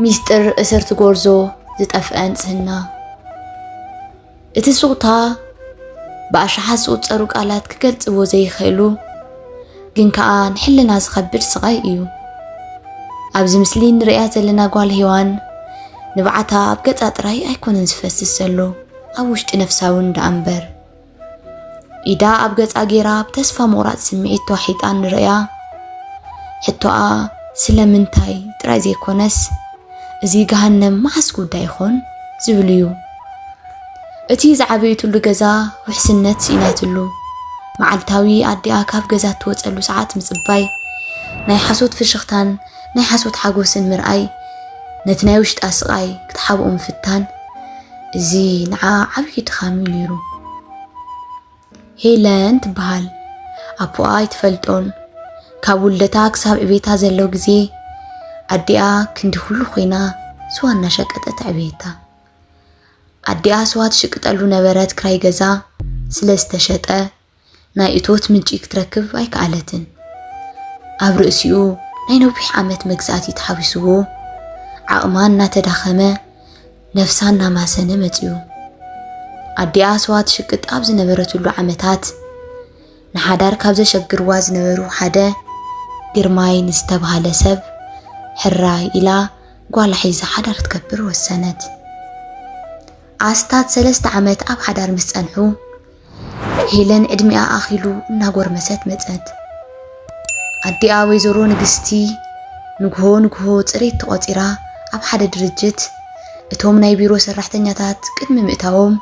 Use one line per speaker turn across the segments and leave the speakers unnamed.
ሚስጥር እሰር'ቲ ጎርዞ ዝጠፍአ ንጽህና እቲ ሱቕታ ብኣሽሓት ዝቑጸሩ ቃላት ክገልጽዎ ዘይኽእሉ ግን ከኣ ንሕልና ዝኸብድ ስቓይ እዩ። ኣብዚ ምስሊ ንርእያ ዘለና ጓል ሄዋን ንብዓታ ኣብ ገጻ ጥራይ ኣይኮነን ዝፈስስ ዘሎ ኣብ ውሽጢ ነፍሳ እውን ደኣ እምበር ኢዳ ኣብ ገጻ ጌራ ብተስፋ ምቑራጽ ስምዒት ተዋሒጣ ንርእያ። ሕቶኣ ስለምንታይ ጥራይ ዘይኮነስ እዚ ገሃነም መዓስ ጉዳይ ይኾን ዝብል እዩ። እቲ ዝዓበየትሉ ገዛ ውሕስነት ስኢናትሉ መዓልታዊ ኣዲኣ ካብ ገዛ እትወፀሉ ሰዓት ምፅባይ ናይ ሓሶት ፍሽኽታን ናይ ሓሶት ሓጎስን ምርኣይ ነቲ ናይ ውሽጣ ስቓይ ክትሓብኦ ምፍታን እዚ ንዓኣ ዓብዪ ድኻም እዩ ነይሩ። ሄለን ትበሃል። ኣቦኣ ኣይትፈልጦን። ካብ ውልደታ ክሳብ ዕቤታ ዘሎ ግዜ ኣዲኣ ክንዲ ኩሉ ኮይና ስዋ እናሸቀጠት ኣዕበየታ። ኣዲኣ ስዋ ትሽቅጠሉ ነበረት ክራይ ገዛ ስለ ዝተሸጠ ናይ እቶት ምንጪ ክትረክብ ኣይከኣለትን። ኣብ ርእሲኡ ናይ ነዊሕ ዓመት መግዛእቲ ተሓዊስዎ ዓቕማ እናተዳኸመ ነፍሳ እናማሰነ መፅኡ። ኣዲኣ ስዋ ትሽቅጥ ኣብ ዝነበረትሉ ዓመታት ንሓዳር ካብ ዘሸግርዋ ዝነበሩ ሓደ ግርማይ ንዝተባሃለ ሰብ ሕራይ ኢላ ጓላ ሒዛ ሓዳር ትከብር ወሰነት። ኣስታት ሰለስተ ዓመት ኣብ ሓዳር ምስ ጸንሑ ሄለን ዕድሚኣ ኣኺሉ እናጎርመሰት መጸት። ኣዲኣ ወይዘሮ ንግስቲ ንግሆ ንግሆ ጽሬት ተቖጺራ ኣብ ሓደ ድርጅት እቶም ናይ ቢሮ ሰራሕተኛታት ቅድሚ ምእታዎም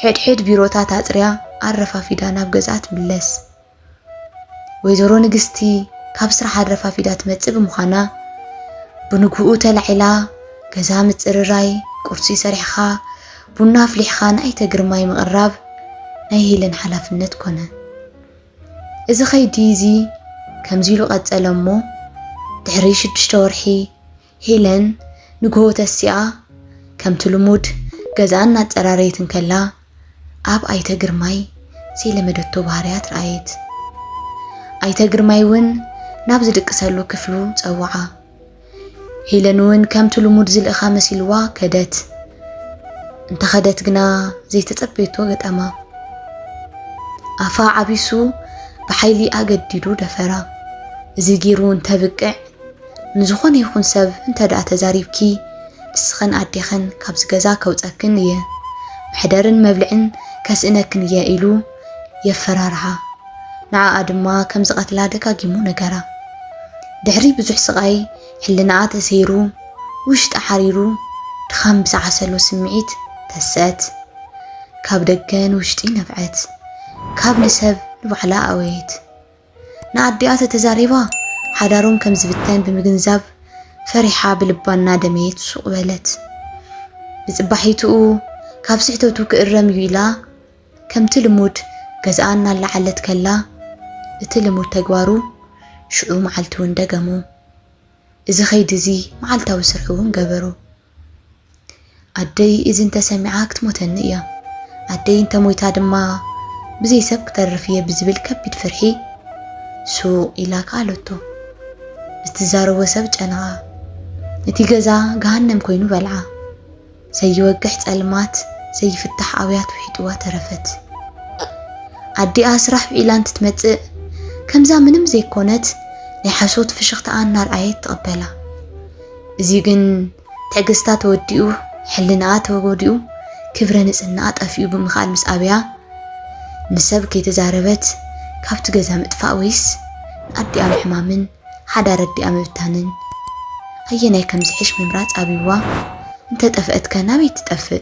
ሕድሕድ ቢሮታት ኣጽርያ ኣረፋፊዳ ናብ ገዝኣ ትምለስ። ወይዘሮ ንግስቲ ካብ ስራሕ ኣረፋፊዳ ትመጽእ ብምዃና ብንግኡ ተላዒላ ገዛ ምጽርራይ፣ ቁርሲ ሰሪሕኻ ቡና ኣፍሊሕኻ ንኣይተ ግርማይ ምቕራብ ናይ ሄለን ሓላፍነት ኮነ። እዚ ከይዲ እዚ ከምዚ ኢሉ ቀጸለ እሞ ድሕሪ ሽዱሽተ ወርሒ ሄለን ንግሆ ተሲኣ ከምቲ ልሙድ ገዝኣ እናፀራረየት እንከላ ኣብ ኣይተ ግርማይ ዘይለመደቶ ባህርያት ረኣየት። ኣይተ ግርማይ እውን ናብ ዝድቅሰሉ ክፍሉ ፀውዓ። ሄለን እውን ከምቲ ልሙድ ዝልእኻ መሲልዋ ከደት። እንተኸደት ግና ዘይተፀበየቶ ገጠማ። ኣፋ ዓቢሱ ብሓይሊ ኣገዲዱ ደፈራ። እዚ ገይሩ እንተብቅዕ ንዝኾነ ይኹን ሰብ እንተድኣ ተዛሪብኪ ንስኽን ኣዴኽን ካብዚ ገዛ ከውፀክን እየ፣ መሕደርን መብልዕን ከስእነክን እየ ኢሉ የፈራርሃ። ንዓኣ ድማ ከም ዝቐትላ ደጋጊሙ ነገራ። ድሕሪ ብዙሕ ስቓይ ሕልናኣ ተሰይሩ፣ ውሽጣ ሓሪሩ፣ ድኻም ብዝዓሰሎ ስምዒት ተሰት። ካብ ደገ ንውሽጢ ነብዐት፣ ካብ ንሰብ ንባዕላ ኣወየት። ንኣዲኣ ተተዛሪባ ሓዳሮም ከም ዝብተን ብምግንዛብ ፈሪሓ ብልባ እናደመየት ሱቕ በለት። ብጽባሒትኡ ካብ ስሕተቱ ክእረም እዩ ኢላ ከምቲ ልሙድ ገዝኣ እናለዓለት ከላ እቲ ልሙድ ተግባሩ ሽዑ መዓልቲ'ውን ደገሞ። እዚ ከይዲ እዚ መዓልታዊ ስርሑ እውን ገበሮ። ኣደይ እዚ እንተሰሚዓ ክትሞተኒ እያ፣ ኣደይ እንተሞይታ ድማ ብዘይ ሰብ ክተርፍ እየ ብዝብል ከቢድ ፍርሒ ሱቕ ኢላ ከኣለቶ። ብትዛረቦ ሰብ ጨነቓ። እቲ ገዛ ገሃነም ኮይኑ በልዓ። ዘይወግሕ ጸልማት፣ ዘይፍታሕ ኣውያት ውሒጥዋ ተረፈት። ኣዲኣ ስራሕ ውዒላ እንትትመጽእ ከምዛ ምንም ዘይኮነት ናይ ሓሶት ፍሽኽታኣ እናርኣየት ትቕበላ። እዚ ግን ትዕግስታ ተወዲኡ፣ ሕልናኣ ተጎዲኡ፣ ክብረ ንጽህናኣ ጠፊኡ ብምኻል ምስ ኣበያ፣ ንሰብ ከይተዛረበት ካብቲ ገዛ ምጥፋእ ወይስ ንኣዲኣ ምሕማምን ሓዳር ኣዲኣ ምብታንን ኣየናይ ከምዝሕሽ ምምራጽ ኣብዩዋ፣ እንተጠፍአትከ ናበይ ትጠፍእ?